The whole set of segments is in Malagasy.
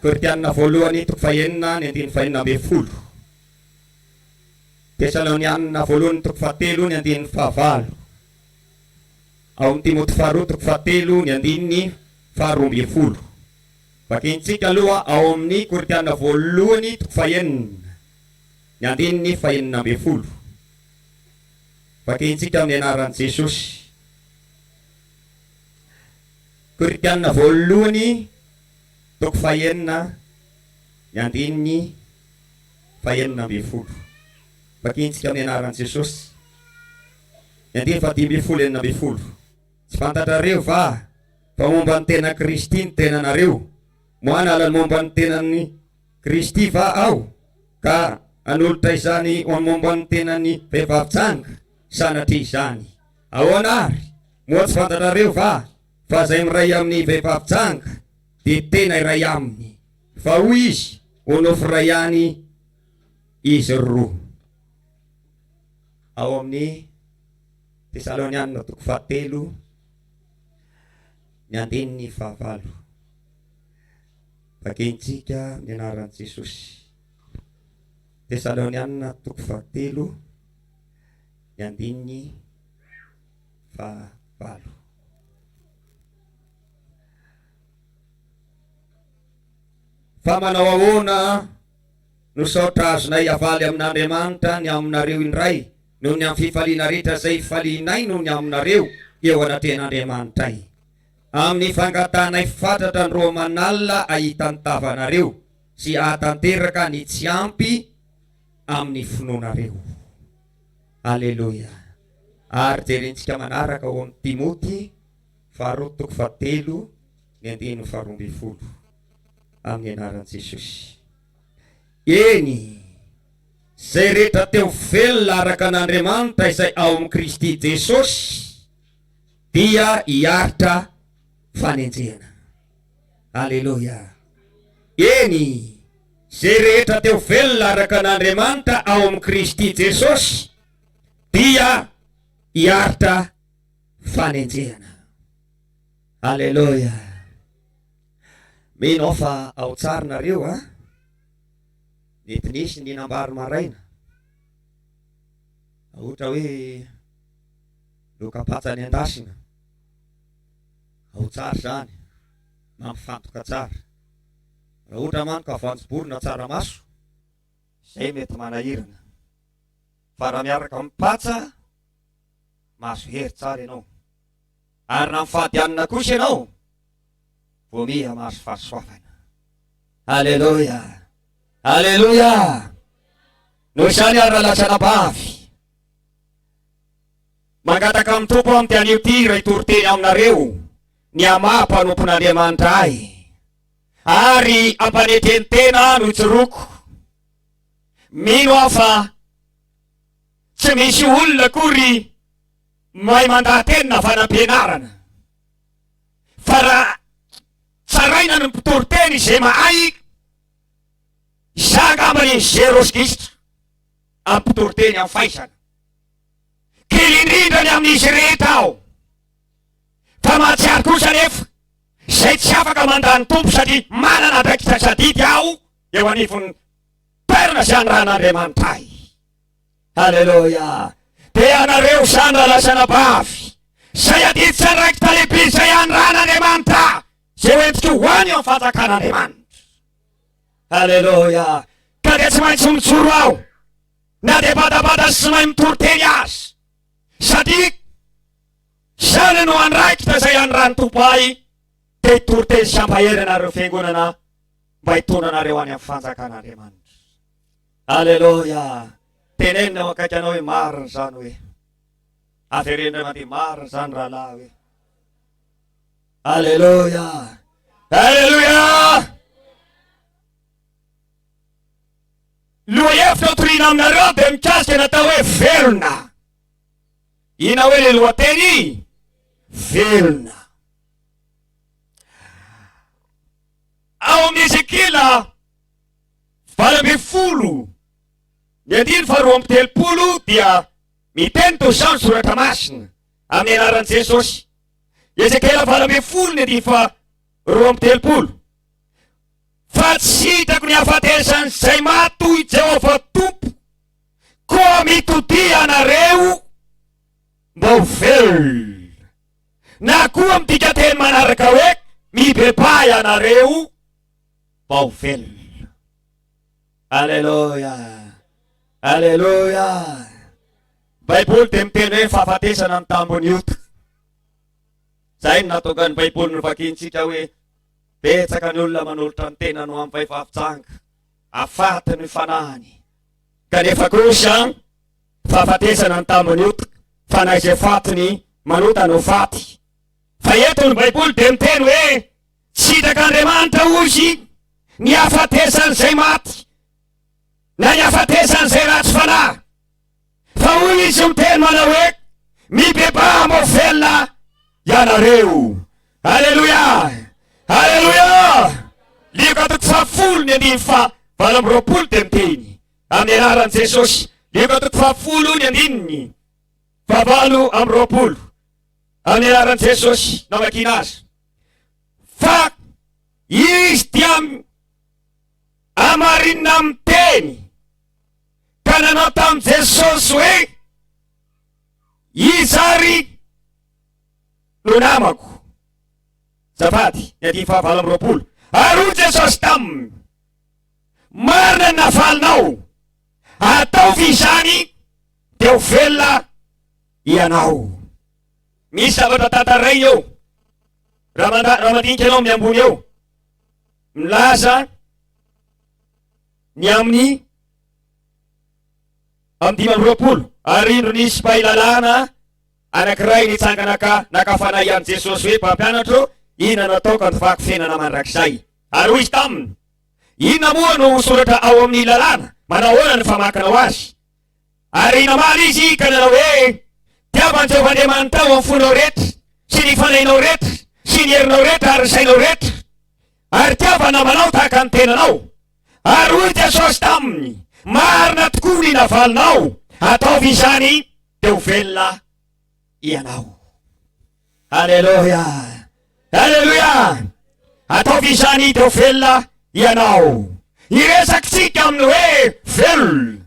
Korintiana voalohany toko fahenina ny andininy fahenina ambin'ny folo, Tesaloniana voalohany toko fahatelo ny andininy fahavalo, ao amin'ny Timoty faharoa toko fahatelo ny andininy faharoa ambin'ny folo. Vakintsika aloha ao amin'ny Korintiana voalohany toko fahenina ny andininy fahenina ambin'ny folo. Vakintsika amin'ny anaran'i Jesosy. Korintiana Voalohany toko fahenina, ny andininy fahenina ambin'ny folo. Vakiantsika amin'ny anaran'i Jesosy ny andininy fahadimy ambin'ny folo enina ambin'ny folo. Tsy fantatrareo va fa momba ny tenan'i Kristy ny tenanareo? Moa hanala ny momba ny tenan'i Kristy va aho ka hanolotra izany ho momba ny tenan'ny vehivavy janga? Sanatria izany! Ahoana ary? Moa tsy fantatrareo va fa izay miray amin'ny vehivavy janga dia tena iray aminy, fa hoy izy ho nofy iray ihany izy roa. Ao amin'ny Tesalonianina toko fahatelo ny andininy fahavalo. Vakintsika ny anaran'i Jesosy. Tesalonianina toko fahatelo. Ny andininy faha valo. Fa manao ahoana no saotra azonay avaly amin'Andriamanitra ny aminareo indray noho ny amin'ny fifaliana rehetra izay hifalianay noho ny aminareo eo anatrehan'Andriamanitray, amin'ny fangatahanay fatratra ny roa aman'alina ahitan-tava anareo sy ahatanteraka ny tsy ampy amin'ny finoanareo. Aleloia! Ary jerentsika manaraka ao amin'ny Timoty faharoa toko fahatelo ny andininy faharoa ambin'ny folo amin'ny anaran'i Jesosy. Eny, izay rehetra te ho velona araka an'Andriamanitra izay ao amin'i Kristy Jesosy dia hiaritra fanenjehana. Aleloia! Eny, izay rehetra te ho velona araka an' Andriamanitra ao amin'i Kristy Jesosy dia hiaritra fanenjehana. Aleloia! Mino aho fa ao tsara nareo an! Mety nisy nihinam-bary maraina, ohatra hoe loka patsa nendasina. Ao tsara izany, mampifantoka tsara. Raha ohatra manko ka voanjobory na tsaramaso, izay mety manahirana. Fa raha miaraka amin'ny patsa, mahazo hery tsara ianao. Ary raha mifady hanina kosa ianao, vao miha mahazo fahasoavana. Aleloia! Aleloia! Noho izany ary raha latsana bavy, Mangataka amin'ny Tompo aho amin'ity anio ity iray toriteny aminareo, ny hamaha mpanompon'Andriamanitra ahy, ary ampanetren-tena ahy no tsoroko. Mino aho fa tsy misy olona akory mahay mandaha-teny na fanampianarana, fa raha tsaraina ny mpitoriteny izay mahay, izaho angamba ny zéro sigistra. Ampitori-teny amin'ny faisana. Kely indrindra ny amin'izy rehetra aho. Fa mahatsiaro kosa anefa izay tsy afaka mandà ny Tompo satria manana andraikitra tsy adidy aho eo anivon'ny toerana izay anirahan'Andriamanitra ahy. Aleloia! Dia ianareo izany rahalahy sy anabavy, izay adidy sy andraikitra lehibe izay anirahan'Andriamanitra ahy, izay hoentiko ho any eo amin'ny fanjakan'Andriamanitra. Aleloia! Ka dia tsy maintsy mijoro aho, na dia badabada sy tsy mahay mitory teny aza, satria izany no andraikitra izay anirahan'ny Tompo ahy, dia hitory teny sy hampahery anareo fiangonana mba hitondra anareo any amin'ny fanjakan'Andriamanitra. Aleloia! Tenenina eo akaiky anao hoe marina izany hoe. Avereno indray mandeha marina izany rahalahy hoe. Aleloia! Aleloia! Lohahevitra hotorina aminareo dia mikasika ny atao hoe velona. Inona hoe ilay lohateny? Velona. Ao amin'ny Ezekiela valo ambin'ny folo ny andiny faharoa amby telopolo dia miteny toy izao ny soratra masina amin'ny anaran'i Jesosy. Ezekiela valo ambin'ny folo ny andininy faha roa amby telopolo. Fa tsy hitako ny hahafatesan'izay maty, hoy Jehovah Tompo, koa mitodia ianareo mba ho velona. Na koa midika teny manaraka hoe mibebaha ianareo mba ho velona. Aleloia! Aleloia! Baiboly dia miteny hoe fahafatesana ny tambon'ny ota. Izay no natokan'ny Baiboly novakiantsika hoe betsaka ny olona manolotra ny tenany ho amin'ny fahefafitsanga, afaty ny fanahiny. Kanefa kosa fahafatesana ny tambon'ny ota, fa na izay faty ny manota no faty. Fa eto ny Baiboly dia miteny hoe sitak'Andriamanitra hozy ny hafatesan'izay maty na ny hafatesan'izay ratsy fanahy. Fa hoy izy miteny manao hoe, Mibebaha mba velona ianareo. Aleloia! Aleloia! Lioka toko fahafolo ny andininy faha valo amby roapolo dia miteny, Amin'ny anaran'i Jesosy. Lioka toko fahafolo ny andininy faha valo amby roapolo. Amin'ny anaran'i Jesosy no amakiana azy. Fa izy dia amarinina miteny. ka nanao tamin'i Jesosy hoe, Iza àry no namako? Azafady, ny andininy fahavalo amby roapolo. Ary hoy Jesosy taminy, Marina ny navalinao, ataovy izany dia ho velona ianao. Misy zavatra tantarainy eo, raha mandinika ianao amin'ny ambony eo, milaza, ny amin'ny amin'ny dimy amby roapolo ary indro nisy mpahay lalàna anankiray nitsangana ka naka fanahy an'i Jesosy hoe mpampianatro inona no atao ka ny fahakofenana mandrakizay ary hoy izy taminy inona moa no soratra ao amin'ny lalàna manahoana ny famakinao azy ary namaly izy ka nanao hoe tiava an'i Jehovah Andriamanitao amin'ny fonao rehetra sy ny fanahinao rehetra sy ny herinao rehetra ary ny sainao rehetra Ary tiava namanao tahaka ny tenanao. Ary hoy Jesosy taminy, Marina tokoa ny navalinao, ataovy izany dia ho velona ianao. Aleloia! Aleloia! Ataovy izany dia ho velona ianao. Iresakitsika amin'ny hoe velona.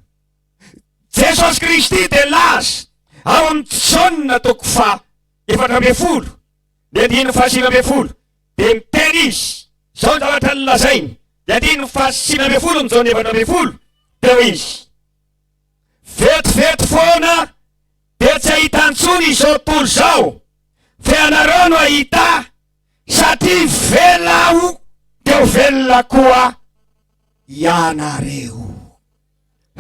Jesosy Kristy dia nilaza ao amin'ny Jaona toko faha efatra ambin'ny folo, ny andininy fahasivy ambin'ny folo, Dia miteny izy, izao ny zavatra nolazainy, dia ity no fahasivy ambin'ny folo ny Jaona efatra ambin'ny folo, dia hoy izy, Vetivety foana dia tsy hahita intsony izao tontolo izao, fa ianareo no hahita, satria velona Aho, dia ho velona koa ianareo.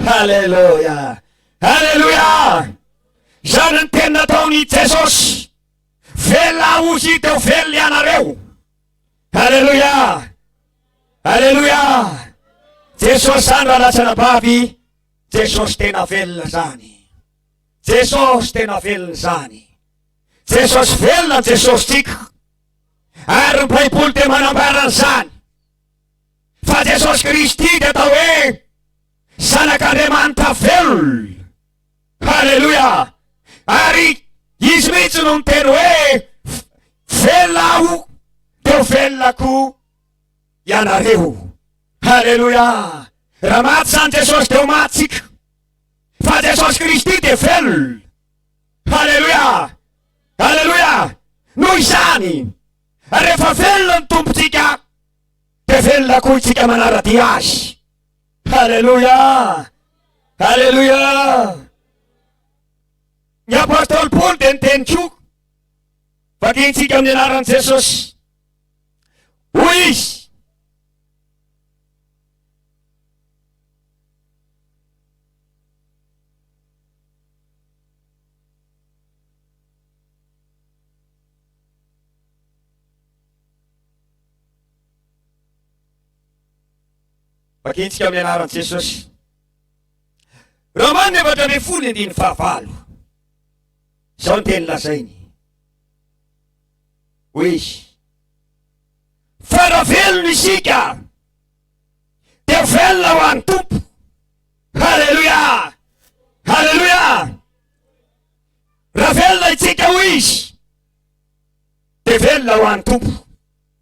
Haleloia! Haleloia! Izany ny teny nataon'i Jesosy. Velona ho hita eo velona ianareo. Aleloia! Aleloia! Jesosy zany ralatsana bavy, Jesosy tena velona zany. Jesosy tena velona zany. Jesosy velona ny Jesosy tsika. Ary ny Baiboly dia manambara an'izany. Fa Jesosy Kristy dia atao hoe zanak'Andriamanitra velona. Haleloia! Ary Izy mihitsy no niteny hoe, Velona Aho, dia ho velona koa ianareo. Haleloia! Raha maty izany Jesosy dia ho maty tsika. Fa Jesosy Kristy dia velona. Haleloia! Haleloia! Noho izany, rehefa velona ny Tompontsika, dia velona koa isika manara-dia Azy. Haleloia! Haleloia! Ny apostoly Paoly dia niteny koa. Vakintsika amin'ny anaran'i Jesosy. Hoy izy, Vakintsika amin'ny anaran'i Jesosy. Romana efatra ambin'ny folo andininy fahavalo. Izao ny teny lazainy. Hoe izy. Fa raha velona isika dia velona ho an'ny Tompo. Haleloia! Haleloia! Raha velona isika ho izy dia velona ho an'ny Tompo.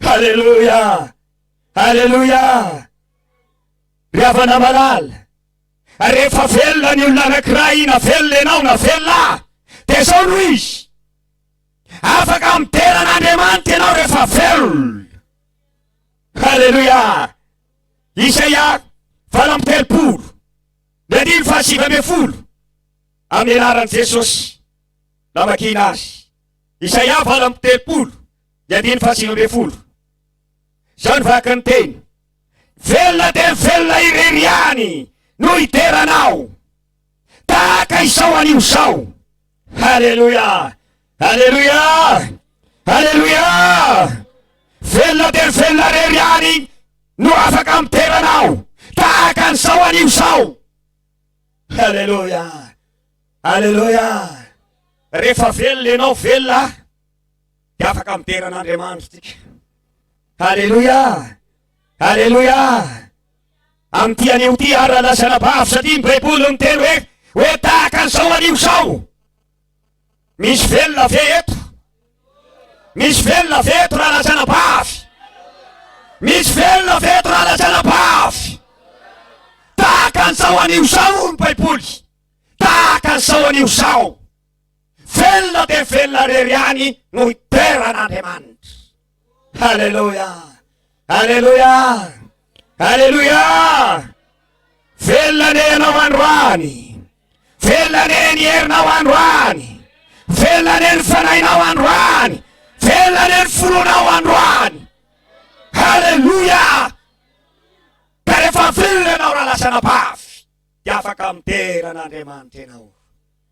Haleloia! Haleloia! Ry havana malala, rehefa velona ny olona anankiray na velona ianao na velona aho, dia izao no izy, afaka midera an'Andriamanitra ianao rehefa velona. Haleloia! Isaia valo amby telopolo, ny andiny fahasivy ambin'ny folo, amin'ny anaran'i Jesosy, namakiana azy. Isaia valo amby telopolo. ny andininy fahasivy ambin'ny folo. Izao ny vaky ny teny, Velona dia velona irery ihany no hidera anao, tahaka izao anio izao. Haleloia! Haleloia! Haleloia! Velona dia velona irery ihany no afaka midera anao, tahaka an'izao anio izao. Haleloia! Haleloia! Rehefa velona ianao, velona dia afaka midera an'Andriamanitra tsika. Aleloia! Aleloia! Amin'ity anio ty ara lasa anabavy satria ny Baiboly miteny hoe hoe tahaka an'izao anio izao. Misy velona ve eto? Misy velona ve eto raha lasa anabavy? Misy velona ve eto raha lasa anabavy? Tahaka an'izao anio izao ny Baiboly. Tahaka an'izao anio izao. Velona dia velona rery ihany no hitoeran'Andriamanitra. Aleloia! Aleloia! Aleloia! Velona ne ianao androany. Velona ne ny herinao androany. Velona ne ny fanahinao androany. Velona ne ny fononao androany. Aleloia! Ka rehefa velona ianao raha lasa anabavy dia afaka midera an'Andriamanitra ianao.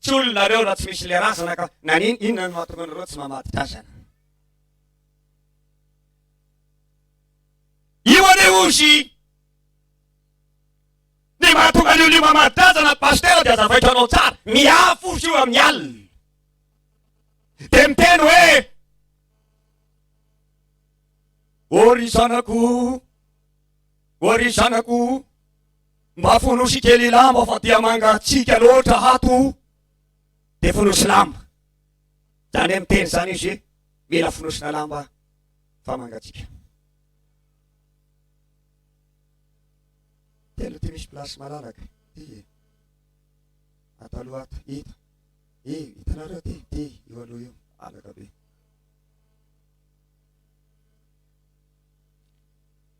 Tsy olona nareo raha tsy misy le razana ka nanin inona no mahatonga anareo tsy mamady drazana. Io anie ozy ny mahatonga an'io lio mamady drazana ny pasitera dia azavaiko anao tsara. Miafo ozy io amin'ny alina. Dia miteny hoe Ô ry zanako, ô ry zanako, Mba fonosy kely lamba fa dia mangatsiaka loatra ato dia fonosy lamba. Zany miteny izany izy hoe mila fonosina lamba fa mangatsiaka. Telo ty misy place malalaka. Ty e. Ato aloha ato. Ito. E, hitanareo ty. Ty, io aloha io. Alaka be.